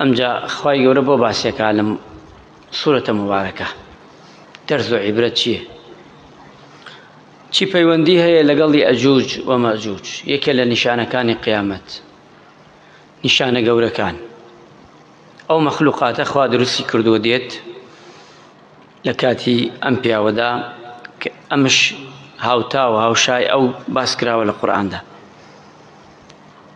ئەمجا خوای گەورە بۆ باسێکا لەم سورەتە مبارەکە دەرز و عیبرەت چییە چی پەیوەندی هەیە لەگەڵی ئەجوج و مەجوج یەکێ لە نیشانەکانی قیامەت نیشانە گەورەکان ئەو مەخلوقاتە خوا دروستی کردووە دێت لە کاتی ئەم پیاوەدا ئەمش هاوتا و هاوشای ئەو باس کراوە لە قورآاندا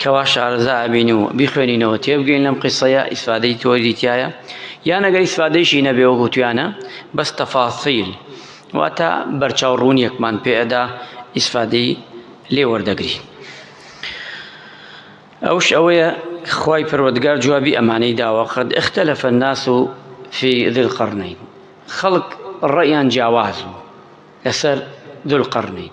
کەوا شارەزا ئەبین و بیخوێنینەوە تێبگەین لەم قیسەیە ئیسفادەی تۆری تایە یان ئەگەر ئیسفادەیشی نەبێ وەکو تویانە بەس تەفاسیل واتە بەرچاو ڕوونیەکمان پێئەدا ئیسفادەی لێ وەردەگری ئەوش ئەوەیە خوای پەروەردگار جوابی ئەمانەی داوە قەد اختلف الناس في ذي القرنين خەڵک ڕێیان جیاواز بوو لەسەر ذو القرنين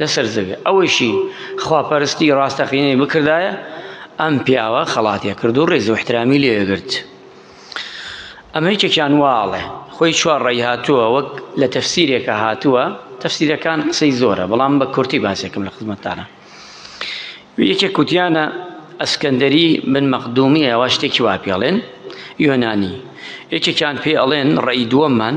لەسەر زەوێ ئەوەیشی خواپەرستی ڕاستەقینەی بکردایە ئەم پیاوە خەڵاتێ کرد و ڕێز و احترامی لێگرت ئەمە یەکێکیان واڵێ خۆی چوار ڕێی هاتووە وەک لە تەفسیرێکە هاتووە تەفسیرەکان قسەی زۆرە بەڵام بە کورتی باسێکم لە خزمەتتانە یەکێک کوتیانە ئەسکەندەری من مەقدومی ئەوە شتێکی وا پێڵێن یۆنانی یەکێکیان پێ ئەڵێن ڕێی دووەممان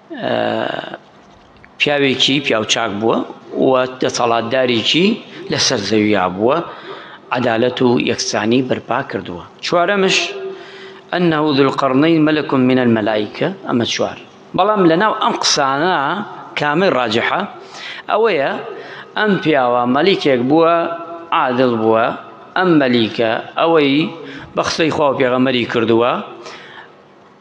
پیاوێکی پیاوچاک بووە و دەسەڵاتدارێکی لەسەر زەویا بووە عدالەت و یەکسانی بەرپا کردووە چوارەمش ئەنه ذوالقرنین ملک من الملائکە ئەمە چوار بەڵام لەناو ئەم قسانە کامەی ڕاجحە ئەوەیە ئەم پیاوە مەلیکێک بووە عادل بووە ئەم مەلیکە ئەوەی بە قسەی خوا و پێغەمەری کردووە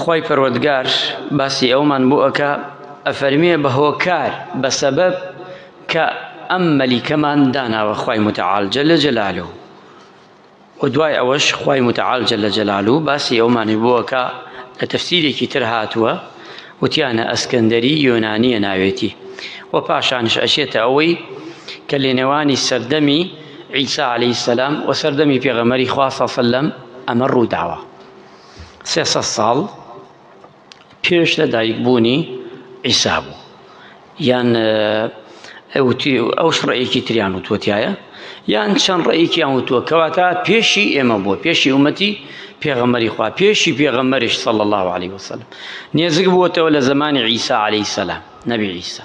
خوای پەروەردگار باسی ئەوەمان بۆ ئەکا ئەفەرمێ بە هۆکار بە سەبەب کە ئەم مەلیکەمان داناوە خوای متعال جل جلاله و دوای ئەوەش خوای متعال جل جلاله باسی ئەومانی بۆ ئەکا لە تەفسیرێکی تر هاتووە وتیانە ئەسکەندەری یۆنانیە ناوێتی و پاشانش ئەچێتە ئەوەی کە لێنێوانی سەردەمی عیسا عليه سلام و سەردەمی پێغەمەری خوا سەلم ئەمە ڕووداوە سێ سەد ساڵ پێش لە دایک بوونی عیسا بوو یان ئەوتی ئەو شڕەیەکی تریان وتوەتایە یان چەند ڕێیکیان وتووە کەواتە پێشی ئێمە بووە پێشی ومەتی پێغەمەری خوا پێشی پێغەمەرش سەڵ الله عليه وسلم نێزگ بووەتەوە لە زمانی عیسا عليه سلام نەبی عیسا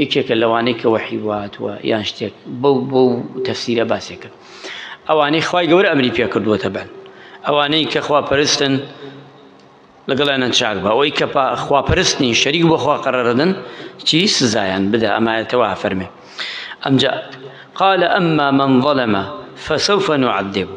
یەکێکە لەوانەی کە وەحی وهاتووە یان شتێک بەو بەو تەفسیرە باسێک کرد ئەوانەی خوای گەورە ئەمری پێ کردووە تەبەن ئەوانەی کە خوا پەرستن لەگەڵیانە چاک بە ئەوەی کە خواپەرستنی شەریک بەخوا قەرەردن چی سزایان بدە ئەمایەتەوە فەرمێ ئەمجا قال ئەمما من ظلمە فسوف نعذبه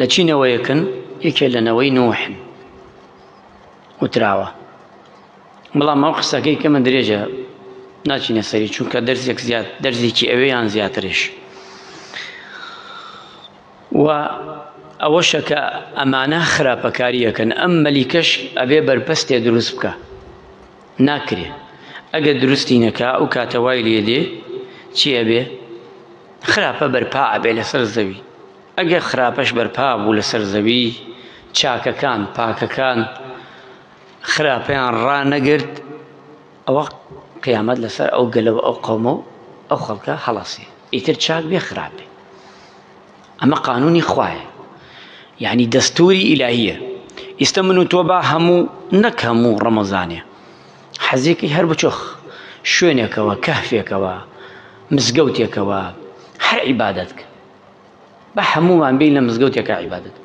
لە چی نەوەیەکن یەکێ لە نەوەی نوحن وتراوە بەڵام ئەو قسەکەی کە من درێژە ناچینە سەری چونکە دەرزێک زیاد دەرزێکی ئەوەیان زیاترش و ئەوەشە کە ئەمانە خراپەکاریەکەن ئەم مەلیکەش ئەبێ بەرپەستێ دروست بکە ناکرێ ئەگەر دروستی نەکا ئەو کاتەوای لێ دێ چی ئەبێ خراپە بەرپا ئەبێ لەسەر زەوی، ئەگەر خراپەش بەرپا بوو لەسەر زەوی، چاکەکان، پاکەکان، خراپەیان ڕانەگرت، ئەوە قیامەت لەسەر ئەو گەلە و ئەو قەومە و ئەو خەڵکە هەڵەسێ، ئیتر چاک بێ خراپ بێ. ئەمە قانونی خوایە یعنی دەستوری ئیلاهیە ئیستا من و تۆ با هەموو نەک هەموو ڕەمەزانێ حەزێکی هەر بچۆخ شوێنێکەوە کەهفێکەوە مزگەوتێکەوە هەر عیبادەت کە بە هەمووان بین لە مزگەوتێکە عیبادەت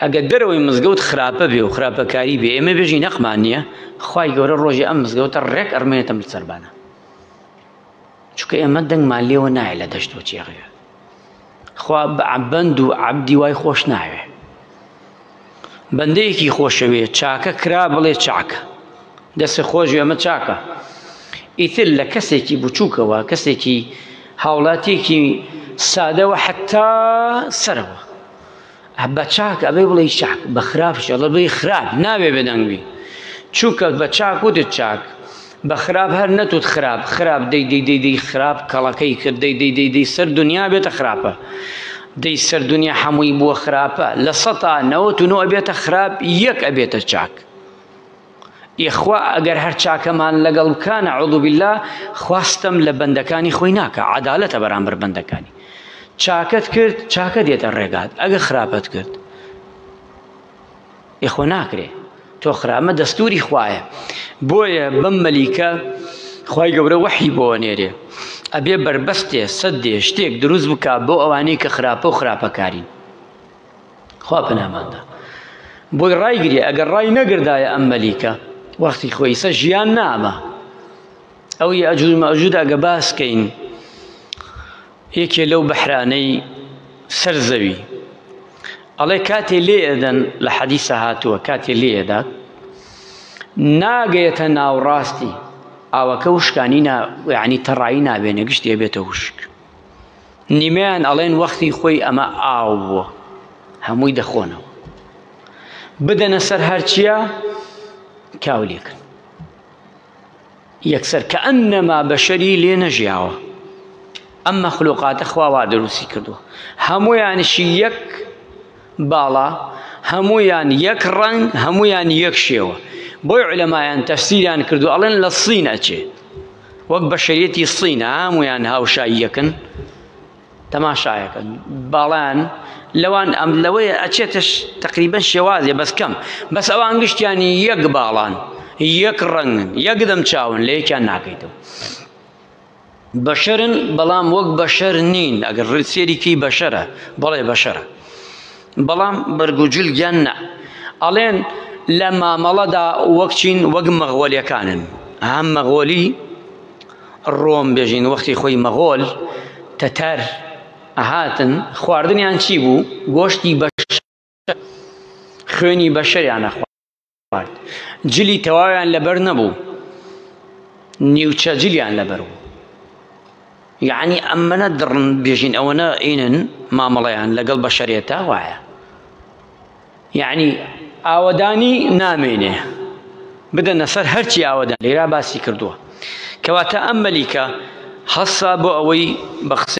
ئەگەر دەرەوەی مزگەوت خراپە بێ و خراپەکاری بێ ئێمە بێژی نەقمان نییە خی گەورە ڕۆژی ئەم مزگەوتە ڕێک ئەرمێنێتە ملسەربانە چکە ئێمە دەنگمان لێوە نایە لە دەشت و چێڕێ خوا بەعبەند و عەبدی وای خۆش ناوێ بەندەیەکی خۆشەوێ چاکە کرا بڵێ چاکە دەسە خۆش ئەمە چاکە ئیتر لە کەسێکی بچووکەوە کەسێکی هاوڵاتیەکی سادەوە حتا سەرەوە بە چاک ئەبێ بڵێ چاک بە خراپش ئەڵە بڵێ خراپ ناوێ بێدەنگبی چونکە بە چاک وتت چاک بە خراپ هەر نەتوت خراپ خراپ دەی دەی دەی دەی خراپ کەڵەکەی کرد دەی دەی دەی دەی سەر دنیا بێتە خراپە دەی سەر دنیا هەمووی بووە خراپە لە سەتا نەوەت و نۆ ئەبێتە خراپ یەک ئەبێتە چاک یەخوا ئەگەر هەر چاکەمان لەگەڵ بکا نەعوذ باللە خوا ستەم لە بەندەکانی خۆی ناکا عەدالەتە بەرامبەر بەندەکانی چاکەت کرد چاکە دێتە ڕێگات ئەگەر خراپەت کرد یەخۆ ناکرێ تۆ خرامە دەستوری خوایە بۆیە بەم مەلیکە خی گەورە وەحی بۆ نێرێ ئەبێ بربەستێ سەدێ شتێک دروست بکە بۆ ئەوانەی کە خراپە و خراپەکارین خوا پەناماندا بۆی ڕایگری ئەگەر ڕای نەگردایە ئەم مەلیکە وەختی خۆیسە ژیان نامە ئەو ئەجوود مەجوود ئەگە باسکەین یەکێ لەو بەحرانەی سەر زەوی ئەڵێ کاتێ لێ ئەدەن لە حەدیسە هاتووە کاتێ لێ ئەدات ناگەیەتە ناوڕاستی ئاوەکە وشکانی یعنی تەڕایی نابێنە گشت دێبێتە وشک نیمەیان ئەڵێن وەختی خۆی ئەمە ئاو بووە هەمووی دەخۆنەوە بدەنە سەر هەرچیە کاو لێکن یەکسەر کە ئەم نەما بەشەری لێ نەژیاوە ئەم مەخلوقاتە خواوا دروستی کردووە هەمویانشی یەک باڵا هەمویان یەک ڕنگ هەمویان یەک شێوە بۆی علەمایان تەفسیریان کردو ئەڵێن لە سین ئەچێ وەک بەشەریەتی سین هەمویان هاوشای یەکن تەماشایەکەن باڵان لەوان ئەم لەوەیە ئەچێتش تقریبن شێوازێ بەس کەم بەس ئەوان گشتیانی یەک باڵان یەک ڕەنگن یەک دەم چاون لە یەکیان ناکەیتەوە بەشەرن بەڵام وەک بەشەر نین ئەگەر ڕسێریکی بەشەرە بەڵێ بەشەرە بەڵام بەرگ و جلگیان نا. ئەڵێن لە مامەڵەدا وەک چین وەک مەغۆلیەکانن ها مەغۆلی ڕۆم بێژین وەختی خۆی مەغۆل تەتەر ئەهاتن خواردنیان چی بوو گۆشتی بەش خوێنی بەشەریانە جلی تەواویان لەبەر نەبوو نیوچە جلیان لەبەر بوو یعنی ئەمەە دڕن بێژین ئەوەنە ئینن مامەڵەیان لەگەڵ بەشەرێتە وایە یعنی ئاوەدانی نامێنێ بدەنە سەر هەرچی ئاوەدان لێرا باسی کردووە کەواتە ئەم مەلیکە هەسا بۆ ئەوەی بە قسە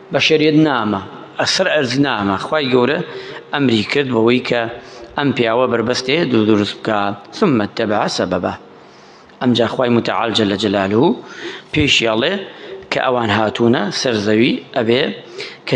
بەشەریەت نامە ئەسەر ئەرز نامە خوای گەورە ئەمری کرد بەوەی کە ئەم پیاوە بەربەستێ دوو دروست بکە ثم اتبع سببا ئەمجا خوای متعال جل جلاله پێشی ئەڵێ کە ئەوان هاتوونە سەر زەوی ئەبێ